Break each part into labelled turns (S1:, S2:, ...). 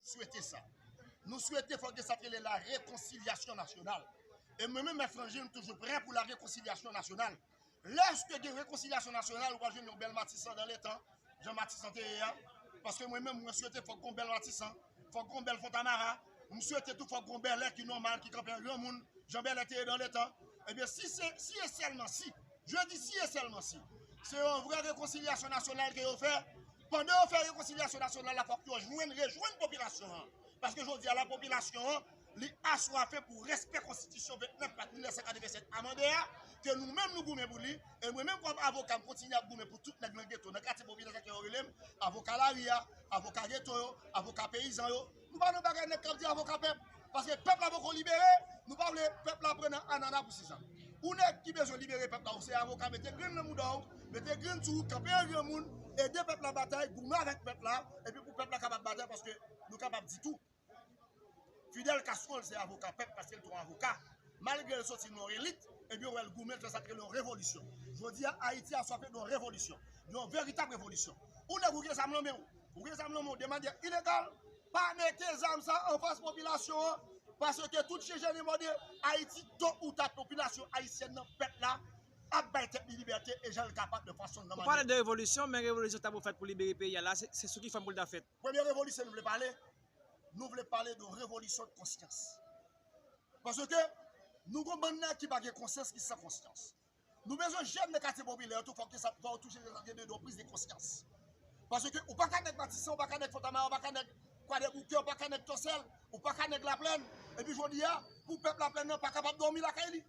S1: swete sa. Nou swete fòk gen sa k rele la rekonsilyasyon nasyonal. E mwen menm Mèt Franje m toujou prè pou la rekonsilyasyon nasyonal. Lèske gen rekonsilyasyon nasyonal ou pral jwenn yon bèl Matisan dan le tan, jan Matisan te ye a. Paske mwen menm mwen swete fòk gen yon bèl Matisan, fòk gen yon bèl Fontamara, m swete tou fòk gen yon Bèlè ki nòmal, ki kanpe an granmoun, jan Bèlè te ye dan le tan. Ebyen si se, si e sèlman si, je di si e sèlman si, se yon vrè rekonsilyasyon nasyonal ke yo fè, Pandan yo fè rekonsilyasyon nasyonal la fòk yo jwenn, rejwenn popilasyon an. Paske jodi a la popilasyon an li aswafe pou respè konstitisyon 29 Mat 1987 amande a, ke nou menm nou goumen pou li, e mwen menm kòm avoka m kontinye ap goumen pou tout nèg nan geto, nan katye popilè sa ke yo rele m, avoka lari a, avoka geto yo, avoka peyizan yo. Nou pa nan bagay nèg kap di avoka pèp, paske pèp la poko libere, nou pa vle pèp la pran nan anana pou sisa. Ou nèg ki bezwen libere pèp la ou se avoka mete grenn nan mouda w, mete grenn sou ou kanpe an granmoun, ede pèp la batay, goumen avèk pèp la, epi pou pèp la kapab batay paske nou kapab di tou Fidel Castro l se avoka pèp paske l t yon avoka malgre l soti nan yon elit epi yo wè l goumen l fè sa k rele yon revolisyon. Jodi a Ayiti aswafe yon revolisyon, yon veritab revolisyon. Ou nèg ou gen zam nan men w, Ou gen zam nan men w de manyè ilegal, pa mete zam sa a anfas popilasyon an, paske tout chen jèn e mòde, Ayiti to ou ta popilasyon ayisyèn nan, pèp la, ap bay tèt li libète e jan l kapab de fason l nan manyè. Ou pale de revolisyon, men
S2: revolisyon ta pou fèt pou libere peyi a la, se sou ki fòm pou l ta fèt? Premye revolisyon nou vle pale,
S1: nou vle pale de revolisyon de konsyans. Paske nou gen bann nèg ki pa gen konsyans, ki san konsyans. Nou bezwen jèn nan katye popilè yo tou fòk yo sa fòw toujou gen de yon priz de konsyans. Paske ou pa ka nèg matisan, ou pa ka nèg fontamara, ou pa ka nèg kwadèboukè, ou pa ka nèg tòsèl, ou pa ka nèg laplèn, epi jodi a pou pèp laplèn nan pa kapab dòmi lakay li.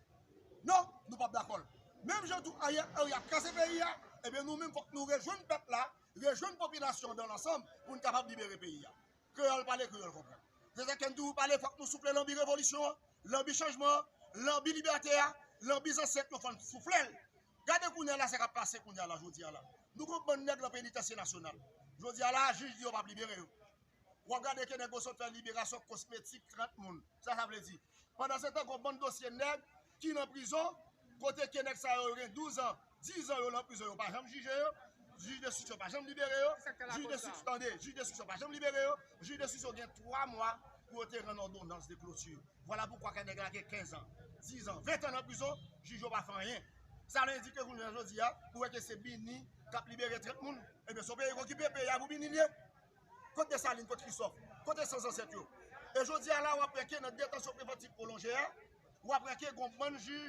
S1: Non, nou pap dakòl. Menm jan tou Ariel Henry ap kraze peyi a, ebyen nou menm fòk nou rejwenn pèp la, rejwenn popilasyon dan lansanm pou n kapab libere peyi a. Kreyòl pale, kreyòl konprann. Se sa k fè m toujou pale fòk nou soufle lanbi revolisyon an, lanbi chanjman an, lanbi libète a, lanbi zansèt yo fò n soufle l. Gade kounye a la sa k ap pase kounye a la jodi a la. Nou gen yon bann nèg lan penitansye nasyonal. Jodi a la a jij di yo pa p libere yo. W ap gade ke nèg yo sot fè liberasyon kosmetik 30 moun. Sa sa vle di? Pandansetan gen yon bann dosye nèg ki nan prizon kote ke nèg sa yo yo gen 12 an. 10 ans yo lan prizon yo pa janm jije yo, jij destriksyon pa janm libere yo, jij destriksyon tande, jij destriksyon pa janm libere yo, jij destriksyon gen 3 mwa pou yo te rann òdonans de kloti. Vwala poukwa kè nèg la gen 15 ans, 10 ans, 20 ans nan prizon, jij yo pa fè anyen. Sa vle di ke jounen jodi a, ou wè ke se Bini k ap libere trèt moun, ebyen se yon peyi k okipe, peyi a pou Bini li ye. Kot Desalin, kot Krisòf, kote san zansèt yo? E jodi a la w aprann ke nan detansyon prevantiv pwolonje a, w aprann ke gon bann jij